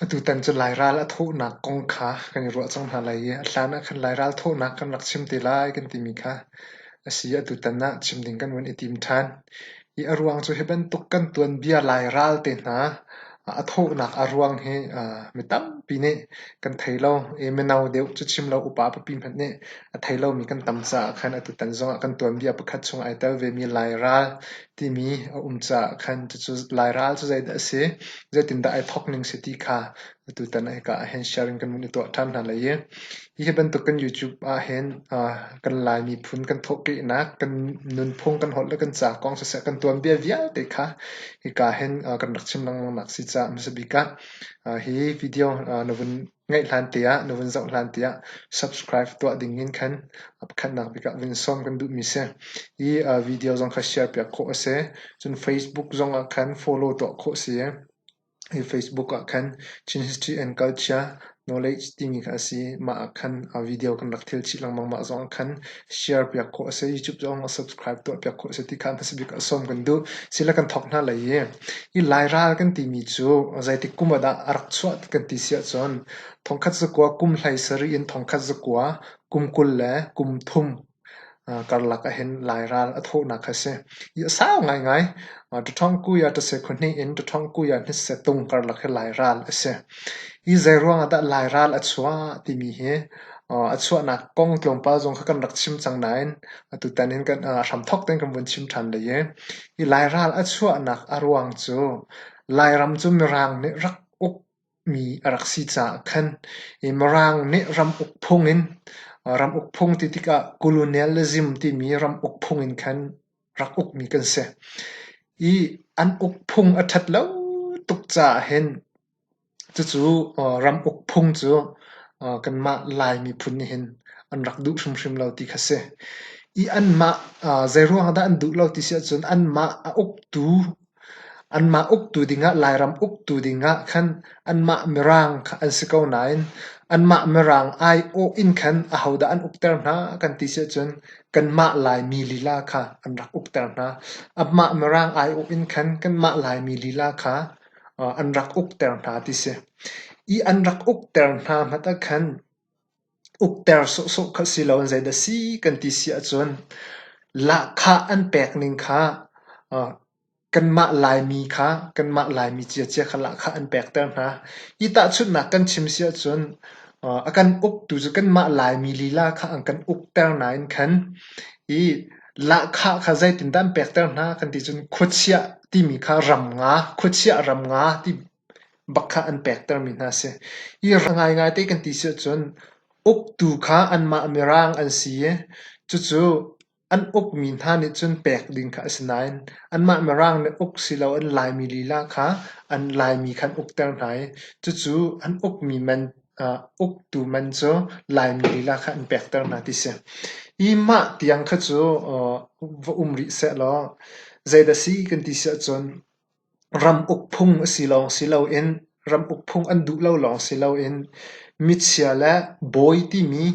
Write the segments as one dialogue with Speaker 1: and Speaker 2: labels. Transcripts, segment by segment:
Speaker 1: Atutan cu Lairal a thawhnak kong kha kan i ruah cang hna lai i a hlan ah khan Lairal thawhnak kan rak chim te lai kan timi kha a si. Atutan ah chim ding kan van i tim ṭhan. Hi a ruang cu hi bantuk kan tuanbia Lairal te hna a thawhnak a ruang hi mi tampi nih kan thei lo. I mino deuh cu chim lo upa papi hmanh nih a thei lomi kan tam caah khan atutan zongah kan tuanbia pakhat chung ai tel vemi Lairal timi a um caah khan cucu Lairal cu zeidah a si, zeitindah ai thawk ning si ti kha Atutan ah hika ahhin share in kan vun i tuah ṭhan hna lai i hi bantukin YouTube ahhin kan Lai miphun kan thawhkehnak, kan nunphung, kan holh le kan ca kong siseh, kan tuanbia vialte kha hika hin kan rak chim lengmangnak si caah hmasa bik ah hi video na vun ngaih hlan te ah, na vun zoh hlan te ah subscribe tuah ding in khan pakhatnak bik ah vun sawm kan duhmi si. Hi video zong kha share piak khawh a si. Cun Facebook zong ah khan follow tuah khawh si. Hi Facebook ah khan Chin History and Culture Knowledge timi kha a si. Mah ah khan video kan rak thil chih lengmang. Mah zong ah khan share piak khawh a si. YouTube zong ah subscribe tuah piak khawh a si ti kha hmasa bik ah sawm kan duh. Sila kan thawk hna lai i, hi Lairal kan timi cu zeitik kum ah dah a rak chuah kan ti si ahcun thongkhat zakua kum hlai sarih in thongkhat zakua kum kul le kum thum karlak ahhin Lairal a thawhnak kha a si. Hi a sau ngaingai. Ṭaṭhawng kui ah ṭaseh khua hnih in ṭaṭhawng kui ah hnitset tung karlak hi Lairal a si. Hi zeiruang ahdah Lairal a chuah timi hi a chuahnak kong tlawmpal zong kha kan rak chim cang nain atutan in hramthawk tein kan vun chim ṭhan lei i hi Lairal a chuahnak a ruang cu Lairam cu Mirang nih rak uk mi a rak si caah khan i Mirang nih ram uk phung in ram uk phung ti tikah colonialism timi ram uk phung in khan rak ukmi kan si. I an uk phung a ṭhat lo tuk caah hin cucu ram uk phung cu kanmah Lai miphun nih hin an rak duh hrimhrim lo ti kha si. I anmah zeiruang ah dah an duh lo ti si ahcun anmah a uktu Anmah uktu dingah Lairam uktu dingah khan anmah Mirang kha an si ko nain anmah Mirang aiawh in khan ahodah an ukter hna kan ti sicun kanmah Laimi lila kha an rak ukter hna. Amah Mirang aiawh in khan kanmah Laimi lila kha an rak ukter hna ti si. Ih an rak ukter hna hmat ah khan Ukter sawhsawh kha si loin zeidah a si kan ti si ahcun lahkhah an pekning kha kanmah Laimi kha kanmah Laimi ciacia kha lahkhah an pekter hna. Hi tahchunhnak kan chim si ahcun a kan uktu cu kanmah Laimi lila kha an kan ukter nain khan hi lahkhah kha zeitindah an pekter hna kan ti cun khuachiah timi kha ram nga, khuachiah ram nga ti Bakkhat an pektermi hna a si i ra ngaingai te kan ti si ahcun uktu kha anmah mirang an si i cucu an ukmi hna nih cun pek ding kha a si nain anmah mirang nih uk silo an Laimi lila kha an Laimi kha an ukter hna i cucu an ukmi man uktu man cu Laimi lila kha an pekter hna ti si. Hi mah tiang kha cu va um rih sehlaw zeidah si kan ti si ahcun Ram uk phung a si lawng si loin ram uk phung an duh lo lawng si loin michia le bawi timi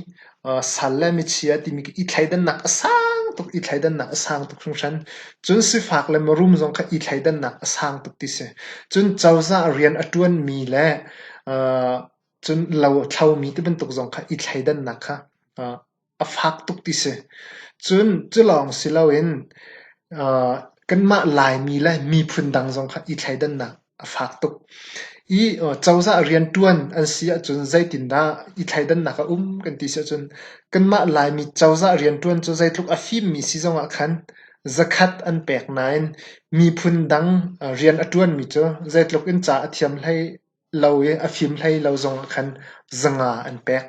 Speaker 1: sal le michia timi i thleidannak a sang tuk i thleidannak a sang tuk hringhran. Cun sifak le mirum zong kha i thleidannak a sang tuk ti si. Cun cozah rian a ṭuanmi le cun lo a thlomi tibantuk zong kha i thleidannak kha a fak tuk ti si. Cun culawng si loin aa kanmah Laimi le miphun dang zong kha i thleidannak a fak tuk. I cozah rianṭuan an si ahcun zeitindah i thleidannak a um kan ti si ahcun kanmah Laimi cozah rianṭuan cu zeitluk a fimmi si zongah khan zakhat an pek nain miphun dang rian a ṭuanmi cu zeitluk in ca a thiam hlei lo i a fim hlei lo zongah khan zanga an pek.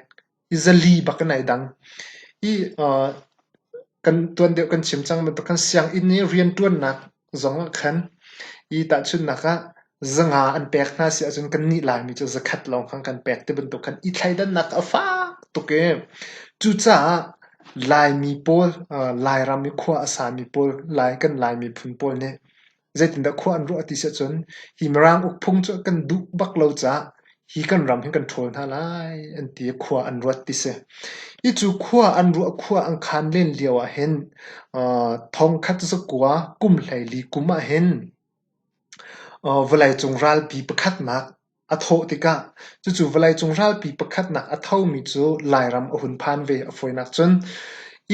Speaker 1: zali bak in ai dang. I aa kan tuan deuh kan chim cang bantuk khan sianginn i rianṭuannak zong ah khan i tahchunhnak ah zanga an pek hna si ahcun kannih Laimi cu zakhat lawng khan kan pek tibantuk khan i thleidannak a fak tuk i cucaah Laimi pawl aa Lairam i khua a sami pawl Lai kan Lai miphun pawl nih Zeitindah khua an ruah a ti si ahcun hi Mirang ukphung cu kan duh bak lo caah hi kan ram hi kan ṭhawl hna lai an ti i khua an ruat ti si. Hi cu khua an ruah khua an khan len lio ahhin thongkhat zakua kum hleili kum ahhin vawleicung ralpi pakhatnak A thawh tikah cucu vawleicung ralpi pakhatnak a thomi cu Lairam a hun phan ve a fawinak cun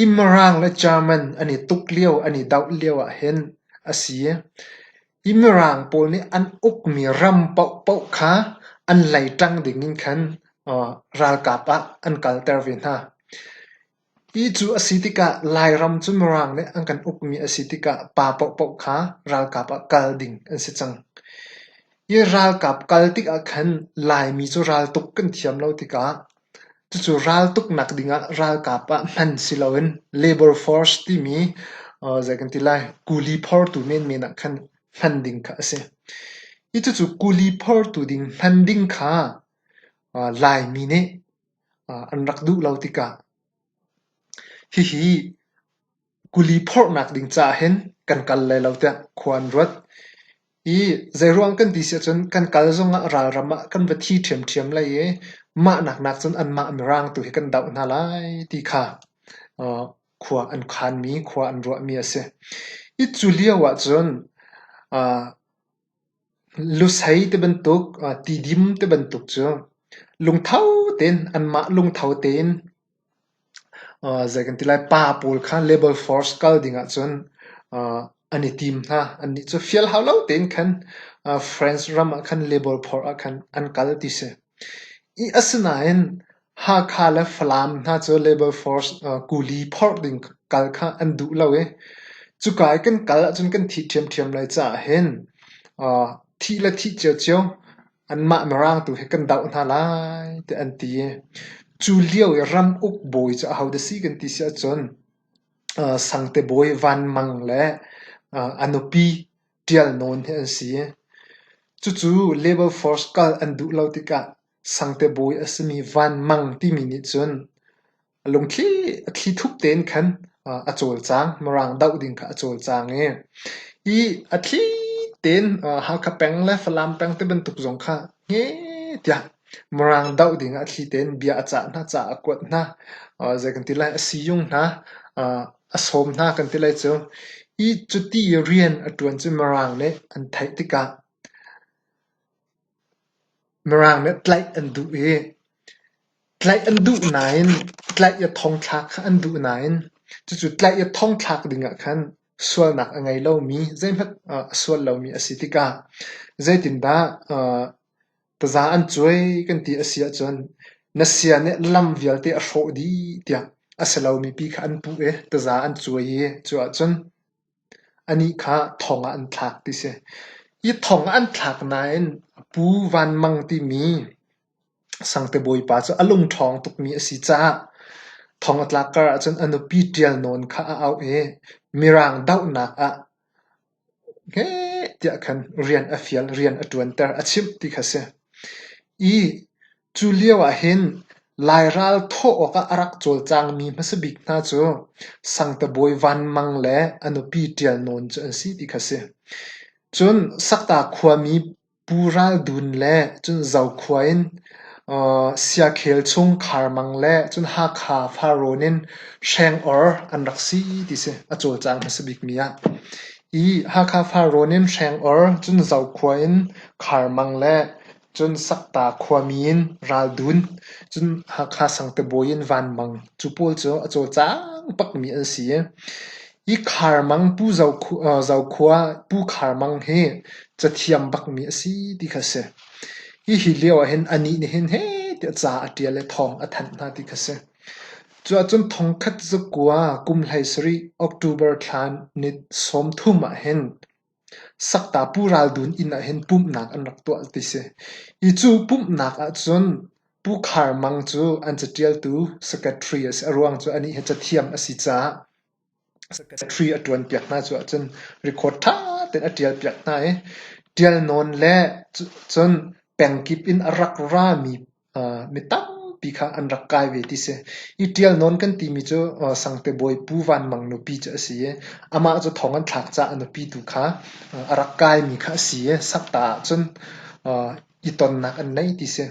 Speaker 1: i Mirang le German an i tuk lio an i doh lio ahhin a si. I Mirang pawl nih an ukmi ram paohpaoh kha an leiṭang ding in khan ralkap ah an kalter ve hna. Ti cu a si tikah Lairam cu Mirang nih an kan ukmi a si tikah pa paohpaoh kha ralkap ah kal ding an si cang. Hi ralkap kal tikah khan Laimi cu raltuk kan thiam lo tikah cucu raltuk nak dingah ralkap ah hman si loin Labour Force timi zei kan ti lai kuli phortu menmen ah khan hman ding kha a si. Hi cucu kuli phortu ding hman ding kha Laimi nih an rak duh lo tikah hihi kuli phorhnak ding caah hin kan kal lai lo tiah khua an ruat i zeiruang kan ti siah cun kan kal zongah ralram ah kan va thi ṭhiamṭhiam lai i mahnak nakcun anmah mirang tu hi kan doh hna lai ti kha khua an khanmi khua an ruahmi a si. Hi cu lio ahcun Lusei ti bantuk, tidim ti bantuk cu lungtho tein anmah lungtho tein zei kan ti lai pa pawl kha label force kal ding ahcun an i tim hna. Annih cu fial hau lo tein khan France ram ah khan label phor ah khan an kal ti si. Asinain Hakha le Falam hna cu Labour Force kuli phorh ding kal kha an duh lo i cuka i kan kal ahcun kan thih ṭhiamṭhiam lai caah hin thih le thih ciocio anmah Mirang tu hi kan doh hna lai tiah an ti i cu lio i ram uk bawi cu ahodah si kan ti si ahcun Sangte Bawi Van Mang le a nupi Ṭial Nawn hi an si. Cucu Labour Force kal an duh lo tikah Sangte bawi a simi Vanmang timi nih cun a lungthli a thlithup tein khan a cawlcang. Mirang doh ding kha a cawlcang i i a thli tein Hakha peng le Falam peng ti bantuk zong kha hme tiah Mirang doh ding ah a thli tein bia a cah hna, ca a kuat hna. Zei kan ti lai, a siizung hna a sawm hna kan ti lai cu. Hi cuti rian a ṭuan cu Mirang nih an theih tikah Mirang nih tlaih an duh i tlaih an duh nain tlaih i thongthlak kha an duh nain cucu tlaih i thongthlak dingah khan sualnak a ngei lomi zeihmanh a sual lomi a si tikah zeitindah taza an cuai kan ti a si ahcun na sia nih lam vialte a hrawh dih tiah a si lomi pi kha an puh i taza an cuai i cu ahcun Anih kha thong ah an thlak ti a si. Hi thong an thlak nain a pu Van Mang timi Sangte Bawipa cu a lungṭhawng tukmi a si caah thong a tlak kar ahcun a nupi ṭial nawn kha a auh i Mirang dohnak ah heh tiah khan rian a fial, rian a ṭuanter, a chimh ti kha a si. Cu lio ahhin Lairal thawh awkah a rak cawlcangmi hmasa bik hna cu Sangtabawi Van Mang le a nupi Ṭial Nawn cu an si ti kha a si. Cun Sakta khuami Pu Ral Dun le cun Zo khua in Siakhel chung Khar Mang le cun Hakha Farrawn in Hreng Or an rak si ti si a cawlcang hmasa bikmi ah. Hi Hakha Farrawn in Hreng Or cun Zo khua in Khar Mang le Cun Sakta khuami in ral dun, cun Hakha Sangte bawi in Van Mang cu pawl cu a cawlcang bakmi an si i hi Kharmang Pu Zokhua Pu Kharmang hi cathiam bakmi a si ti kha a si. Hihi lio ahhin anih nih hin hehti a ca a ṭial le thawng a thanh hna ti kha a si. Cuahcun thongkhat zakua kum hlei sarih October thla ni sawmthum ahhin Sakta pu raldun inn ah hin pumhnak an rak tuah ti si. Hi cu pumhnak ahcun Pu Khar Mang cu an caṭialtu secretary a si. A ruang cu anih hi cathiam a si caah secretary a ṭuanpiak hna cu ahcun record ṭha tein a ṭialpiak hna i ṭial nawn le cun pengkip in a rak rami Mi tampi kha an rak kai ve ti si. Hi ṭial nawn kan timi cu Sangte Bawi Pu Vanmang nupi cu a si i amah cu thong an thlak caah a nupi tu kha a rak kaimi kha a si i sakta ahcun i tonnak an nei ti si.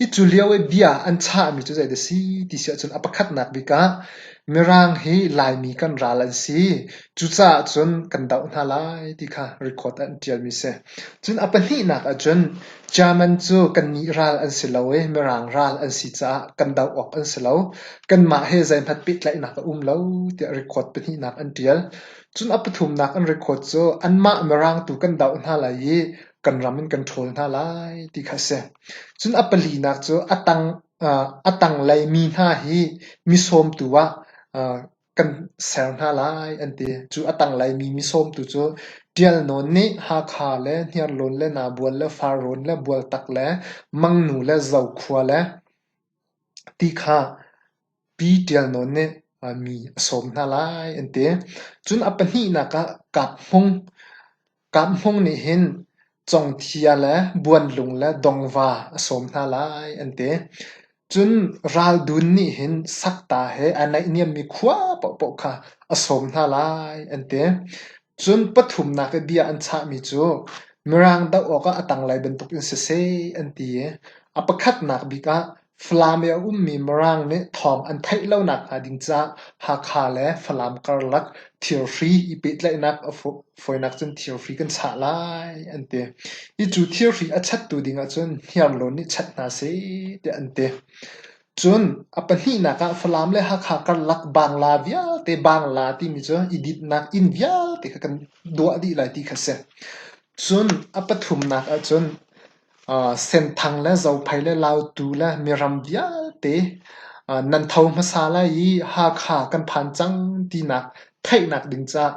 Speaker 1: Hi cu lio i bia an chahmi cu zei dah si ti si ahcun a pakhatnak bik ah Mirang hi Laimi kan ral an si. Cucaah cun kan doh hna lai ti kha record an ṭialmi si. Cun a pahnihnak ahcun German cu kannih ral an si lo i Mirang ral an si caah kan doh awk an si lo. Kanmah he zeihmanh pehtlaihnak a um lo tiah record pahnihnak an ṭial. Cun a pathumnak an record cu anmah Mirang tu kan doh hna lai i kan ram in kan ṭhawl hna lai ti kha a si. Cun a palinak cu a tang, a tanglei mi hna hi mi sawmtu ah kan ser hna lai an ti. Cu a tanglaimi misawm tu cu Ṭial Nawn nih Hakha le Hniarlawn le Nabual le Farrawn le Bualtak le Mangnu le Zokhua le ti kha Pi Ṭial Nawn nih mi a sawm hna lai an ti. Cun a pahnihnak ah Kap Hmung, Kam Hmung nih hin congthia le buanlung le dongva a sawm hna lai an ti. Cun Ral Dun nih hin sakta he aa naihniammi khua paohpaoh kha a sawm hna lai an ti. Cun pathumnak i bia an chahmi cu Mirang doh awkah a tanglei bantukin siseh an ti i a pakhatnak bik ah Falam i a ummi Mirang nih thawng an theih lonak hnga ding caah Hakha le Falam karlak thirhri i pehtlaihnak a fawinak cun thirhri kan chah lai an ti. Hi cu thirhri a chattu ding ahcun hniarlawn nih chat hna seh tiah an ti. Cun a pahnihnak ah Falam le Hakha karlak bangla vialte bangla timi cu i dinhnak inn vialte kha kan duah dih lai ti kha a si. Cun a pathumnak ahcun Senthang le Zophei le Lautu le miram vialte nan tho hmasa lai i Hakha kan phan cang tinak theihnak ding caah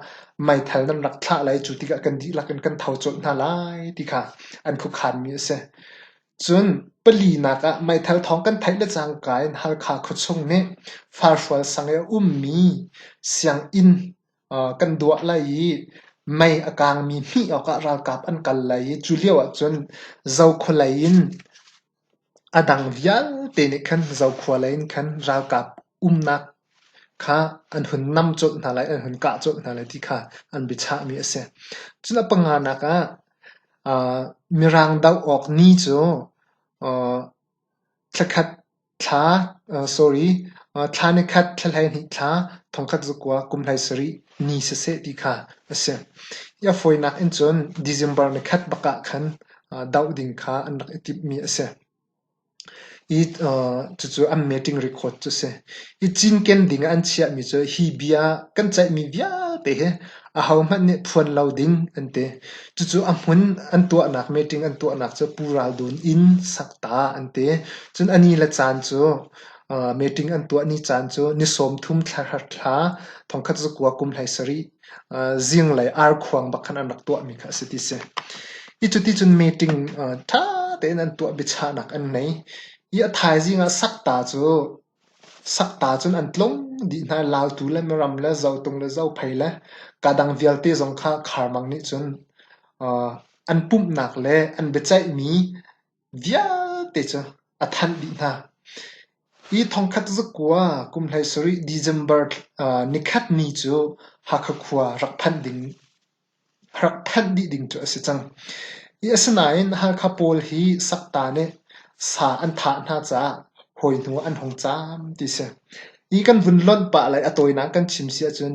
Speaker 1: meithal nan rak thlah lai. Cu tikah kan dihlak in kan tho colh hna lai ti kha an khuakhanmi a si. Cun palinak ah meithal thawng kan theih le cangka in Halkha khuachung nih Falhrual sang i a ummi sianginn kan duah lai i mei a kangmi hmih awkah ralkap an kal lai i cu lioah cun zokhua lei in a dang vialte nih khan zokhua lei in khan ralkap umnak kha an hun nam colh hna lai, an hun kah colh hna lai ti kha an biachahmi a si. Cun a panganak ah Mirang doh awk ni cu thla khat Thla ni khat, thla hleihnih thla, thongkhat zukua kum hleisarih ni siseh ti kha a si. Hi a fawinak in cun December ni khat bak ah khan doh ding kha an rak i timhmi a si. Cucu an meeting record cu a si. Hi cinken ding ah an chiahmi cu hi bia kan ceihmi vialte hi Ahohmanh nih phuan lo ding an ti. Cucu a hmun an tuahnak meeting an tuahnak cu Pu Ral Dun inn sak ta an ti. Cun a ni le caan cu uh, meeting an tuah ni caan cu ni sawmthum thla thla thla thongkhat cu kua kum hlei sarih uh, zinglei arkhuang bak khan an rak tuahmi kha a si ti si. Hi cu ti cun meeting uh, ṭha tein an tuah biachahnak an nei. Hi a thaizing ah sak ta cu Sakta cun an tlung dih hna i Lautu le Miram le Zotung le Zophei le ka dang vialte zong kha kharmang nih cun an pumhnak le an biaceihmi vialte cu a thanh dih hna. Hi thongkhat zakua kum hlei sarih December ni khat ni cu Hakha khua rak phanh ding. rak thanh dih ding cu a si cang. Asinain Halkha pawl hi sakta nih sa an thah hna caah hawi hnu ah an hung cam ti si. Hi kan vun lonh pah le a tawinak kan chim si ahcun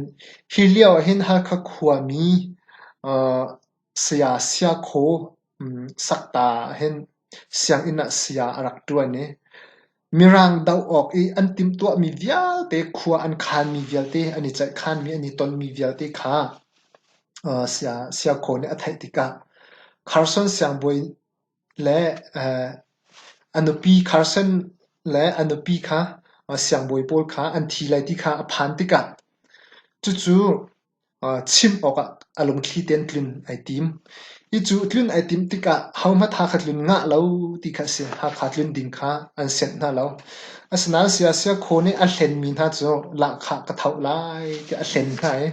Speaker 1: hi lio ahhin Halkha khuami saya Siakhaw Sakta ah hin sianginn ah saya a rak ṭuan i mirang doh awk i an timhtuahmi vialte, khua an khanmi vialte, an i ceihkhanmi, an i tonmi vialte kha siakhaw nih a theih tikah Carson siangbawi le a nupi Carson le a nupi kha siangbawi pawl kha an thi lai ti kha a phan tikah cucu chimh awkah a lungthli tein tlun ai tim. Hi cu tlun ai timh tikah hohmanh tha kha tlun ngah lo ti kha a si. Hakha tlun ding kha an sianh hna lo. Asinain siase khaw nih a hlenmi hna cu lahkhah ka thoh lai tiah a hlen hna i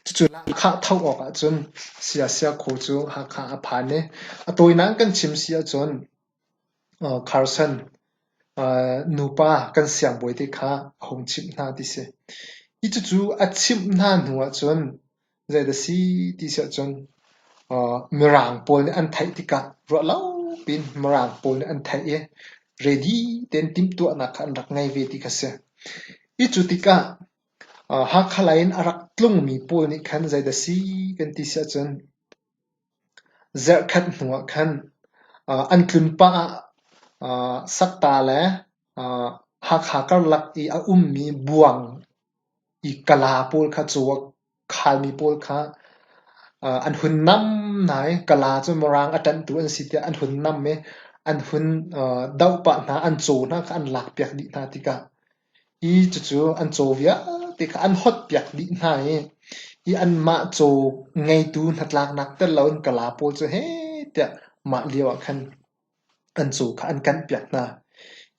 Speaker 1: cucu lahkhah thoh awkah cun siase khaw cu Hakha a phan i a tawinak in kan chim si ahcun Carson, nupa kan siangbawi te kha a hung chimh hna ti si. Hi cucu a chimh hna hnu ahcun zei dah si ti si ahcun mirang pawl nih an theih tikah ruah lo piin mirang pawl nih an theih i ready tein timhtuahnak kha an rak ngei ve ti kha si. Hi cu tikah Hakha lei in a rak tlungmi pawl nih khan zei dah si kan ti si ahcun Zerhkhat hnu ah khan an tlun pah ah sakta le Hakha karlak i a ummi buang i kala pawl kha cu a khalmi pawl kha an hun nam hna i kala cu Mirang a ṭanhtu an si tiah an hun nam i an hun doh pah hna, an caw hna kha an lakpiak dih hna tikah I cucu an caw vialte kha an hawtpiak dih hna i i anmah caw ngeitu hnatlaknak tel loin kala pawl cu heh tiah mah lioah khan an caw kha an kanhpiak hna.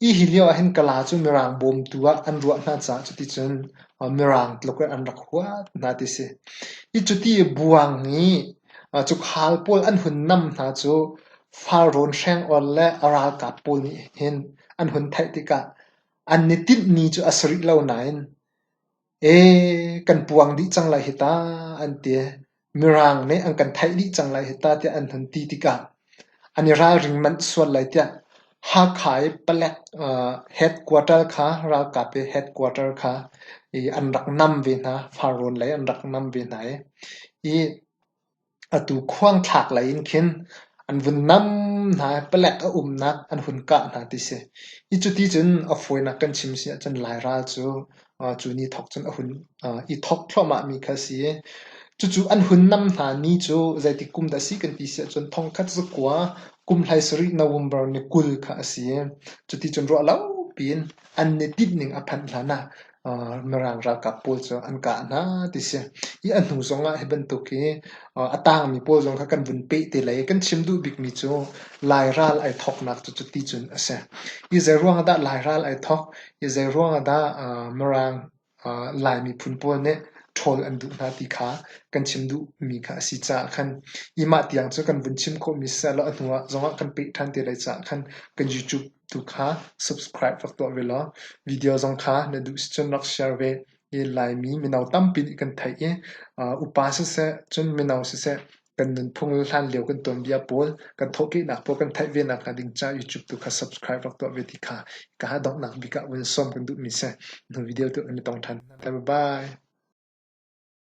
Speaker 1: Hi hi lioah hin kala cu Mirang bawmtu ah an ruah hna caah cuticun Mirang tluk in an rak huat hna ti a si. Hi cuti buang i cukhal pawl an hun nam hna cu Falrawn hreng or le a ralkap pawl nih hin an hun theih tikah An i timhmi cu a si rih lo nain "ee kan puang dih cang lai hi ta" an ti. Mirang nih an kan theih dih cang lai hi ta tiah an hun ti tikah an i ralring manh sual lai tiah Hakha i palek headquarter kha ralkap i headquarter kha i an rak nam ve hna. Far rawn lei an rak nam ve hna i Atu khuangthlak lei in khin an vun nam hna i palek a umnak an hun kah hna ti si. I cuti cun a fawinak kan chim si ahcun Lairal cu cu ni thawk cun a hun i thawk thluahmahmi kha a si i cucu an hun nam hna ni cu zeitik kum dah a si kan ti si ahcun thongkhat zakua kum hleisarih November ni kul kha a si i cuticun ruahlopi in an ni tinh ning a phanh hlan ah Mirang ralkap pawl cu an kah hna ti a si. Hi a hnu zong ah hi bantuk hi a tangmi pawl zong kha kan vun peh te lai i kan chim duh bikmi cu Lai ral ai thawknak cu cuti cun a si. Hi zeiruang ah dah Lai ral ai thawk? Hi zeiruang ah dah Mirang Lai miphun pawl nih ṭhawl an duh hna ti kha kan chim duhmi kha a si caah khan hi mah tiang cu kan vun chim khawhmi siseh law a hnu zong ah kan peh ṭhan te lai caah khan kan YouTube Tu kha subscribe rak tuah ve law video zong kha na duh si cun rak share ve. I Laimi mino tampi nih kan theih i upa siseh cun mino siseh kan nunphung le hlan lio kan tuanbia pawl kan thawhkehnak pawl kan theih ve nak hnga ding caah YouTube tu kha subscribe rak tuah ve ti kha ka ha donghnak bik ah vun sawm kan duhmi si. Nu video tu kan i tong ṭhan. Bye bye.